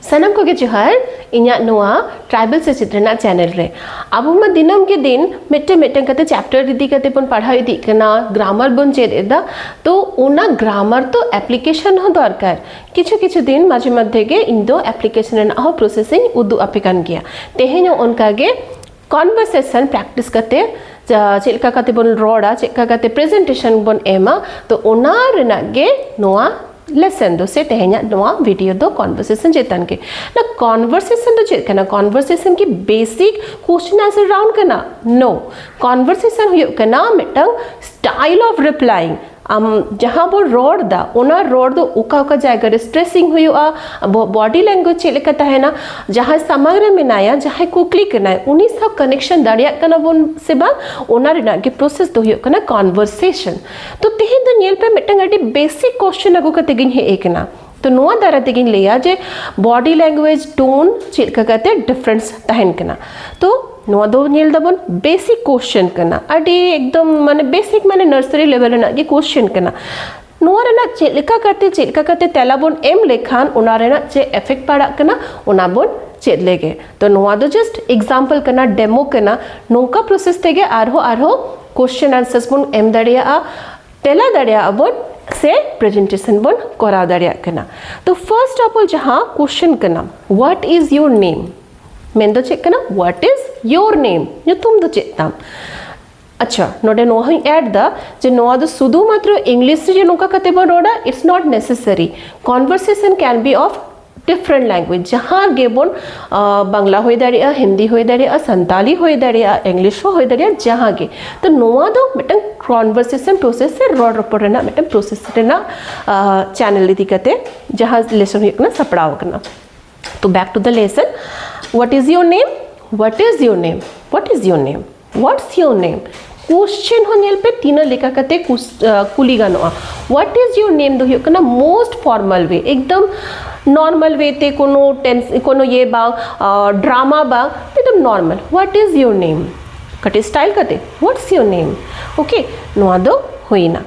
ᱥᱟᱱᱟᱢ ᱠᱚᱜᱮ ᱡᱚᱦᱟᱨ ᱤᱧᱟᱹᱜ ᱱᱚᱣᱟ ᱴᱨᱟᱭᱵᱮᱞ ᱥᱮᱪᱮᱫ ᱨᱮᱱᱟᱜ ᱪᱮᱱᱮᱞ ᱨᱮ ᱟᱵᱚ ᱢᱟ ᱫᱤᱱᱟᱹᱢ ᱜᱮ ᱫᱤᱱ ᱢᱤᱫᱴᱮᱱ ᱢᱤᱫᱴᱮᱱ ᱠᱟᱛᱮ ᱪᱮᱯᱴᱟᱨ ᱤᱫᱤ ᱠᱟᱛᱮ ᱵᱚᱱ ᱯᱟᱲᱦᱟᱣ ᱤᱫᱤᱜ ᱠᱟᱱᱟ ᱜᱨᱟᱢᱟᱨ ᱵᱚᱱ ᱪᱮᱫ ᱮᱫᱟ ᱛᱚ ᱚᱱᱟ ᱜᱨᱟᱢᱟᱨ ᱛᱚ ᱮᱯᱞᱤᱠᱮᱥᱚᱱ ᱦᱚᱸ ᱫᱚᱨᱠᱟᱨ ᱠᱤᱪᱷᱩ ᱠᱤᱪᱷᱩ ᱫᱤᱱ ᱢᱟᱡᱷᱮ ᱢᱚᱫᱽᱫᱷᱮ ᱜᱮ ᱤᱧ ᱫᱚ ᱮᱯᱞᱤᱠᱮᱥᱚᱱ ᱨᱮᱱᱟᱜ ᱦᱚᱸ ᱯᱨᱚᱥᱮᱥ ᱤᱧ ᱩᱫᱩᱜ ᱟᱯᱮ ᱠᱟᱱ ᱜᱮᱭᱟ ᱛᱮᱦᱮᱧ ᱦᱚᱸ ᱚᱱᱠᱟ ᱜᱮ ᱠᱚᱱᱵᱷᱟᱨᱥᱮᱥᱚᱱ ᱯᱨᱮᱠᱴᱤᱥ ᱠᱟᱛᱮ ᱪᱮᱫ ᱞᱮᱠᱟ ᱠᱟᱛᱮ ᱵᱚᱱ ᱨᱚᱲᱟ ᱪᱮᱫ ᱞᱮᱠᱟ ᱠᱟᱛᱮ ᱯᱨᱮᱡᱮᱱᱴᱮᱥᱚᱱ ᱵᱚᱱ ᱮᱢᱟ ᱛᱚ ᱚᱱᱟ ᱨᱮᱱᱟᱜ ᱜᱮ ᱱᱚᱣᱟ ᱞᱮᱥᱚᱱ ᱫᱚ ᱥᱮ ᱛᱮᱦᱮᱧᱟᱜ ᱱᱚᱣᱟ ᱵᱷᱤᱰᱤᱭᱳ ᱫᱚ ᱠᱚᱱᱵᱷᱟᱨᱥᱮᱥᱚᱱ ᱪᱮᱛᱟᱱ ᱜᱮ ᱱᱟ ᱠᱚᱱᱵᱷᱟᱨᱥᱮᱥᱚᱱ ᱫᱚ ᱪᱮᱫ ᱠᱟᱱᱟ ᱠᱚᱱᱵᱷᱟᱨᱥᱮᱥᱚᱱ ᱠᱤ ᱵᱮᱥᱤᱠ ᱠᱚᱥᱪᱮᱱ ᱟᱱᱥᱟᱨ ᱨᱟᱣᱩᱱᱰ ᱠᱟᱱᱟ ᱱᱳ ᱠᱚᱱᱵᱷᱟᱨᱥᱮᱥᱚᱱ ᱦᱩᱭᱩᱜ ᱠᱟᱱᱟ ᱢᱤᱫᱴᱟᱝ ᱥᱴᱟᱭᱤᱞ ᱚᱯᱷ ᱨᱤᱯᱞᱟᱭᱤᱝ ᱟᱢ ᱡᱟᱦᱟᱸ ᱵᱚᱱ ᱨᱚᱲ ᱫᱟ ᱚᱱᱟ ᱨᱚᱲ ᱫᱚ ᱚᱠᱟ ᱚᱠᱟ ᱡᱟᱭᱜᱟ ᱨᱮ ᱥᱴᱨᱮᱥᱤᱝ ᱦᱩᱭᱩᱜᱼᱟ ᱟᱵᱚᱣᱟᱜ ᱵᱚᱰᱤ ᱞᱮᱝᱜᱩᱭᱮᱡᱽ ᱪᱮᱫ ᱞᱮᱠᱟ ᱛᱟᱦᱮᱱᱟ ᱡᱟᱦᱟᱸᱭ ᱥᱟᱢᱟᱝ ᱨᱮ ᱢᱮᱱᱟᱭᱟ ᱡᱟᱦᱟᱸᱭ ᱠᱩᱠᱞᱤ ᱠᱟᱱᱟᱭ ᱩᱱᱤ ᱥᱟᱶ ᱠᱟᱱᱮᱠᱥᱚᱱ ᱫᱟᱲᱮᱭᱟᱜ ᱠᱟᱱᱟ ᱵᱚᱱ ᱥᱮ ᱵᱟᱝ ᱚᱱᱟ ᱨᱮᱱᱟᱜ ᱜᱮ ᱯᱨᱚᱥᱮᱥ ᱫᱚ ᱦᱩᱭᱩᱜ ᱠᱟᱱᱟ ᱠᱚᱱᱵᱷᱟᱨᱥᱮᱥᱚᱱ ᱛᱚ ᱛᱮᱦᱮᱧ ᱫᱚ ᱧᱮᱞ ᱯᱮ ᱢᱤᱫᱴᱟᱝ ᱟᱹᱰᱤ ᱵᱮᱥᱤᱠ ᱠᱚᱥᱪᱮᱱ ᱟᱹᱜᱩ ᱠᱟᱛᱮ ᱜᱤᱧ ᱦᱮᱡ ᱟᱠᱟᱱᱟ ᱛᱚ ᱱᱚᱣᱟ ᱫᱟᱨᱟᱭ ᱛᱮᱜᱤᱧ ᱞᱟᱹᱭᱟ ᱡᱮ ᱵᱚᱰᱤ ᱞᱮᱝᱜᱩᱭᱮᱡᱽ ᱴᱳᱱ ᱪᱮᱫ ᱞᱮᱠᱟ ᱠᱟᱛᱮ ᱰᱤᱯᱷᱟᱨᱮᱱᱥ ᱛᱟᱦᱮᱱ ᱠᱟᱱᱟ ᱛᱚ ᱱᱚᱣᱟ ᱫᱚ ᱧᱮᱞ ᱫᱟᱵᱚᱱ ᱵᱮᱥᱤᱠ ᱠᱚᱥᱪᱮᱱ ᱠᱟᱱᱟ ᱟᱹᱰᱤ ᱮᱠᱫᱚᱢ ᱢᱟᱱᱮ ᱵᱮᱥᱤᱠ ᱢᱟᱱᱮ ᱱᱟᱨᱥᱟᱨᱤ ᱞᱮᱵᱮᱞ ᱨᱮᱱᱟᱜ ᱜᱮ ᱠᱚᱥᱪᱮᱱ ᱠᱟᱱᱟ ᱱᱚᱣᱟ ᱨᱮᱱᱟᱜ ᱪᱮᱫ ᱞᱮᱠᱟ ᱠᱟᱛᱮ ᱪᱮᱫ ᱞᱮᱠᱟ ᱠᱟᱛᱮ ᱛᱮᱞᱟ ᱵᱚᱱ ᱮᱢ ᱞᱮᱠᱷᱟᱱ ᱚᱱᱟ ᱨᱮᱱᱟᱜ ᱪᱮᱫ ᱮᱯᱷᱮᱠᱴ ᱯᱟᱲᱟᱜ ᱠᱟᱱᱟ ᱚᱱᱟ ᱵᱚᱱ ᱪᱮᱫ ᱞᱮᱜᱮ ᱛᱚ ᱱᱚᱣᱟ ᱫᱚ ᱡᱟᱥᱴ ᱮᱠᱡᱟᱢᱯᱚᱞ ᱠᱟᱱᱟ ᱰᱮᱢᱳ ᱠᱟᱱᱟ ᱱᱚᱝᱠᱟ ᱯᱨᱚᱥᱮᱥ ᱛᱮᱜᱮ ᱟᱨᱦᱚᱸ ᱟᱨᱦᱚᱸ ᱠᱚᱥᱪᱮᱱ ᱟᱱᱥᱟᱨᱥ ᱵᱚᱱ ᱮᱢ ᱫᱟᱲᱮᱭᱟᱜᱼᱟ ᱛᱮᱞᱟ ᱫᱟᱲᱮᱭᱟᱜ ᱟᱵᱚᱱ ᱥᱮ ᱯᱨᱮᱡᱮᱱᱴᱮᱥᱚᱱ ᱵᱚᱱ ᱠᱚᱨᱟᱣ ᱫᱟᱲᱮᱭᱟᱜ ᱠᱟᱱᱟ ᱛᱚ ᱯᱷᱟᱨᱥᱴ ᱚᱯᱷ ᱚᱞ ᱡᱟᱦᱟᱸ ᱠᱚᱥᱪᱮᱱ ᱠᱟᱱᱟ ᱦᱣᱟᱴ ᱤᱡ ᱭᱳᱨ ᱱᱮᱢ ᱢᱮᱱ ᱫᱚ ᱪᱮᱫ ᱠᱟᱱᱟ ᱦᱣᱟᱴ ᱤᱡ ᱭᱳᱨ ᱱᱮᱢ ᱧᱩᱛᱩᱢ ᱫᱚ ᱪᱮᱫ ᱛᱟᱢ ᱟᱪᱪᱷᱟ ᱱᱚᱰᱮ ᱱᱚᱣᱟ ᱦᱚᱧ ᱮᱰ ᱫᱟ ᱡᱮ ᱱᱚᱣᱟ ᱫᱚ ᱥᱩᱫᱷᱩ ᱢᱟᱛᱨᱚ ᱤᱝᱞᱤᱥ ᱨᱮ ᱱᱚᱝᱠᱟ ᱠᱟᱛᱮ ᱵᱚᱱ ᱨᱚᱲᱟ it's not necessary conversation can be of different language ᱡᱟᱦᱟᱸ ᱜᱮᱵᱚᱱ ᱵᱟᱝᱞᱟ ᱦᱩᱭ ᱫᱟᱲᱮᱭᱟᱜᱼᱟ ᱦᱤᱱᱫᱤ ᱦᱩᱭ ᱫᱟᱲᱮᱭᱟᱜᱼᱟ ᱥᱟᱱᱛᱟᱞᱤ ᱦᱩᱭ ᱫᱟᱲᱮᱭᱟᱜᱼᱟ ᱤᱝᱞᱤᱥ ᱦᱚᱸ ᱦᱩᱭ ᱫᱟᱲᱮᱭᱟᱜᱼᱟ ᱡᱟᱦᱟᱸ ᱜᱮ ᱛᱚ ᱱᱚᱣᱟ ᱫᱚ ᱢᱤᱫᱴᱟᱝ ᱠᱚᱱᱵᱷᱟᱨᱥᱮᱥᱚᱱ ᱯᱨᱚᱥᱮᱥ ᱥᱮ ᱨᱚᱲ ᱨᱚᱯᱚᱲ ᱨᱮᱱᱟᱜ ᱢᱤᱫᱴᱟᱝ ᱯᱨᱚᱥᱮᱥ ᱨᱮᱱᱟᱜ ᱪᱮᱱᱮᱞ ᱤᱫᱤ ᱠᱟᱛᱮ ᱡᱟᱦᱟᱸ ᱞᱮᱥᱚᱱ ᱦᱩᱭᱩᱜ ᱠᱟᱱᱟ ᱥᱟᱯᱲᱟᱣ ᱟᱠᱟᱱᱟ ᱛᱚ back to the lesson ᱦᱚᱣᱟᱴ is your name what is your name what is your name what's your name question ᱦᱚᱸ ᱧᱮᱞ ᱯᱮ ᱛᱤᱱᱟᱹᱜ ᱞᱮᱠᱟ ᱠᱟᱛᱮ ᱠᱩᱞᱤ ᱜᱟᱱᱚᱜᱼᱟ ᱦᱚᱣᱟᱴ ᱤᱡ ᱭᱳᱨ ᱱᱮᱢ ᱫᱚ ᱦᱩᱭᱩᱜ ᱠᱟᱱᱟ ᱢᱳᱥᱴ ᱯᱷᱚᱨᱢᱟᱞ ᱣᱮ ᱮᱠᱫᱚᱢ ᱱᱚᱨᱢᱟᱞ ᱣᱮ ᱛᱮ ᱠᱳᱱᱳ ᱴᱮᱱ ᱠᱳᱱᱳ ᱤᱭᱟᱹ ᱵᱟᱝ ᱰᱨᱟᱢᱟ ᱵᱟᱝ ᱮᱠᱫᱚᱢ ᱱᱚᱨᱢᱟᱞ ᱦᱚᱣᱟᱴ ᱤᱡ ᱭᱳᱨ ᱱᱮᱢ ᱠᱟᱹᱴᱤᱡ ᱥᱴᱟᱭᱤᱞ ᱠᱟᱛᱮ ᱦᱚᱣᱟᱴᱥ ᱭᱳᱨ ᱱᱮᱢ ᱳᱠᱮ ᱱᱚᱣᱟ ᱫᱚ ᱦᱩᱭᱱᱟ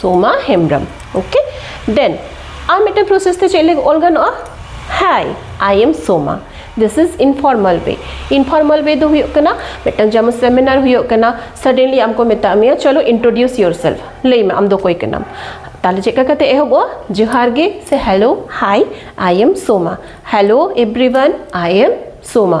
ᱥᱳᱢᱟ ᱦᱮᱢᱵᱨᱚᱢ ᱳᱠᱮ ᱫᱮᱱ ᱟᱨ ᱢᱤᱫᱴᱮᱱ ᱯᱨᱚᱥᱮᱥ ᱛᱮ ᱪᱮᱫ ᱞᱟᱹᱜᱤᱫ ᱚᱞ ᱜᱟᱱᱚᱜᱼᱟ ᱦᱟᱭ ᱟᱭ ᱮᱢ ᱥᱳᱢᱟ ᱫᱤᱥ ᱤᱡ ᱤᱱᱯᱷᱚᱨᱢᱟᱞ ᱣᱮ ᱤᱱᱯᱷᱚᱨᱢᱟᱞ ᱣᱮ ᱫᱚ ᱦᱩᱭᱩᱜ ᱠᱟᱱᱟ ᱢᱤᱫᱴᱟᱝ ᱡᱮᱢᱚᱱ ᱥᱮᱢᱤᱱᱟᱨ ᱦᱩᱭᱩᱜ ᱠᱟᱱᱟ ᱥᱟᱰᱮᱱᱞᱤ ᱟᱢ ᱠᱚ ᱢᱮᱛᱟᱜ ᱢᱮᱭᱟ ᱪᱚᱞᱚ ᱤᱱᱴᱨᱳᱰᱤᱭᱩᱥ ᱭᱳᱨ ᱥᱮᱞᱯᱷ ᱞᱟᱹᱭ ᱢᱮ ᱟᱢ ᱫᱚ ᱚᱠᱚᱭ ᱠᱟᱱᱟᱢ ᱛᱟᱦᱞᱮ ᱪᱮᱫ ᱞᱮᱠᱟ ᱠᱟᱛᱮ ᱮᱦᱚᱵᱚᱜᱼᱟ ᱡᱚᱦᱟᱨ ᱜᱮ ᱥᱮ hello hi I am Soma hello everyone I am Soma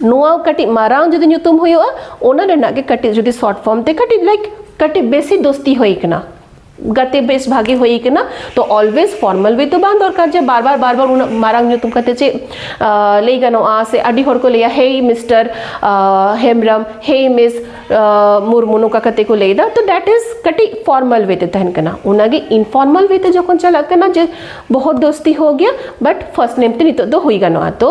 ᱱᱚᱣᱟ ᱠᱟᱹᱴᱤᱡ ᱢᱟᱨᱟᱝ ᱡᱩᱫᱤ ᱧᱩᱛᱩᱢ ᱦᱩᱭᱩᱜᱼᱟ ᱚᱱᱟ ᱨᱮᱱᱟᱜ ᱜᱮ ᱠᱟᱹᱴᱤᱡ ᱡᱩᱫᱤ ᱥᱚᱨᱴ ᱯᱷᱚᱨᱢ ᱛᱮ ᱠᱟᱹᱴᱤᱡ ᱞᱟᱭᱤᱠ ᱠᱟᱹᱴᱤᱡ ᱵᱮᱥᱤ ᱫᱳᱥᱛᱤ ᱦᱩᱭ ᱠᱟᱱᱟ ᱜᱟᱛᱮ ᱵᱮᱥ ᱵᱷᱟᱜᱮ ᱦᱩᱭ ᱠᱟᱱᱟ ᱛᱚ ᱚᱞᱣᱮᱡ ᱯᱷᱚᱨᱢᱟᱞ ᱣᱮ ᱫᱚ ᱵᱟᱝ ᱫᱚᱨᱠᱟᱨ ᱡᱮ ᱵᱟᱨ ᱵᱟᱨ ᱵᱟᱨ ᱵᱟᱨ ᱩᱱᱟᱹᱜ ᱢᱟᱨᱟᱝ ᱧᱩᱛᱩᱢ ᱠᱟᱛᱮ ᱪᱮᱫ ᱞᱟᱹᱭ ᱜᱟᱱᱚᱜᱼᱟ ᱥᱮ ᱟᱹᱰᱤ ᱦᱚᱲ ᱠᱚ ᱞᱟᱹᱭᱟ hey mister Hembrom hey miss Murmu ᱱᱚᱝᱠᱟ ᱠᱟᱛᱮ ᱠᱚ ᱞᱟᱹᱭᱫᱟ ᱛᱚ ᱫᱮᱴ ᱤᱡ ᱠᱟᱹᱴᱤᱡ ᱯᱷᱚᱨᱢᱟᱞ ᱣᱮ ᱛᱮ ᱛᱟᱦᱮᱱ ᱠᱟᱱᱟ ᱚᱱᱟᱜᱮ ᱤᱱᱯᱷᱚᱨᱢᱟᱞ ᱣᱮ ᱛᱮ ᱡᱚᱠᱷᱚᱱ ᱪᱟᱞᱟᱜ ᱠᱟᱱᱟ ᱡᱮ ᱵᱚᱦᱚᱛ ᱫᱳᱥᱛᱤ ᱦᱳ ᱜᱮᱭᱟ ᱵᱟᱴ ᱯᱷᱟᱨᱥᱴ ᱱᱮᱢ ᱛᱮ ᱱᱤᱛᱚᱜ ᱫᱚ ᱦᱩᱭ ᱜᱟᱱᱚᱜᱼᱟ ᱛᱚ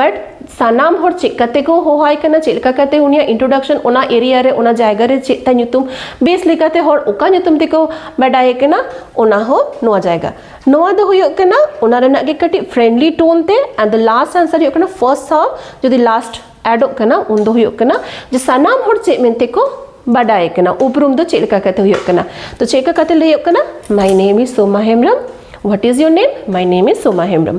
ᱵᱟᱴ ᱥᱟᱱᱟᱢ ᱦᱚᱲ ᱪᱮᱫ ᱠᱟᱛᱮ ᱠᱚ ᱦᱚᱦᱚᱣᱟᱭ ᱠᱟᱱᱟ ᱪᱮᱫ ᱞᱮᱠᱟ ᱠᱟᱛᱮ ᱩᱱᱤᱭᱟᱜ ᱤᱱᱴᱨᱳᱰᱟᱠᱥᱚᱱ ᱚᱱᱟ ᱮᱨᱤᱭᱟ ᱨᱮ ᱚᱱᱟ ᱡᱟᱭᱜᱟ ᱨᱮ ᱪᱮᱫ ᱛᱟᱭ ᱧᱩᱛᱩᱢ ᱵᱮᱥ ᱞᱮᱠᱟᱛᱮ ᱦᱚᱲ ᱚᱠᱟ ᱧᱩᱛᱩᱢ ᱛᱮᱠᱚ ᱵᱟᱰᱟᱭᱮ ᱠᱟᱱᱟ ᱚᱱᱟ ᱦᱚᱸ ᱱᱚᱣᱟ ᱡᱟᱭᱜᱟ ᱱᱚᱣᱟ ᱫᱚ ᱦᱩᱭᱩᱜ ᱠᱟᱱᱟ ᱚᱱᱟ ᱨᱮᱱᱟᱜ ᱜᱮ ᱠᱟᱹᱴᱤᱡ ᱯᱷᱨᱮᱱᱰᱞᱤ ᱴᱳᱱ ᱛᱮ ᱟᱨ ᱫᱚ ᱞᱟᱥᱴ ᱟᱱᱥᱟᱨ ᱦᱩᱭᱩᱜ ᱠᱟᱱᱟ ᱯᱷᱟᱨᱥᱴ ᱥᱟᱶ ᱡᱩᱫᱤ ᱞᱟᱥᱴ ᱮᱰᱚᱜ ᱠᱟᱱᱟ ᱩᱱ ᱫᱚ ᱦᱩᱭᱩᱜ ᱠᱟᱱᱟ ᱡᱮ ᱥᱟᱱᱟᱢ ᱦᱚᱲ ᱪᱮᱫ ᱢᱮᱱᱛᱮ ᱠᱚ ᱵᱟᱰᱟᱭᱮ ᱠᱟᱱᱟ ᱩᱯᱨᱩᱢ ᱫᱚ ᱪᱮᱫ ᱞᱮᱠᱟ ᱠᱟᱛᱮ ᱦᱩᱭᱩᱜ ᱠᱟᱱᱟ ᱛᱚ ᱪᱮᱫ ᱞᱮᱠᱟ ᱠᱟᱛᱮ ᱞᱟᱹᱭᱚᱜ ᱠᱟᱱᱟ my name is Soma Hembrom what is your name my name is Soma Hembrom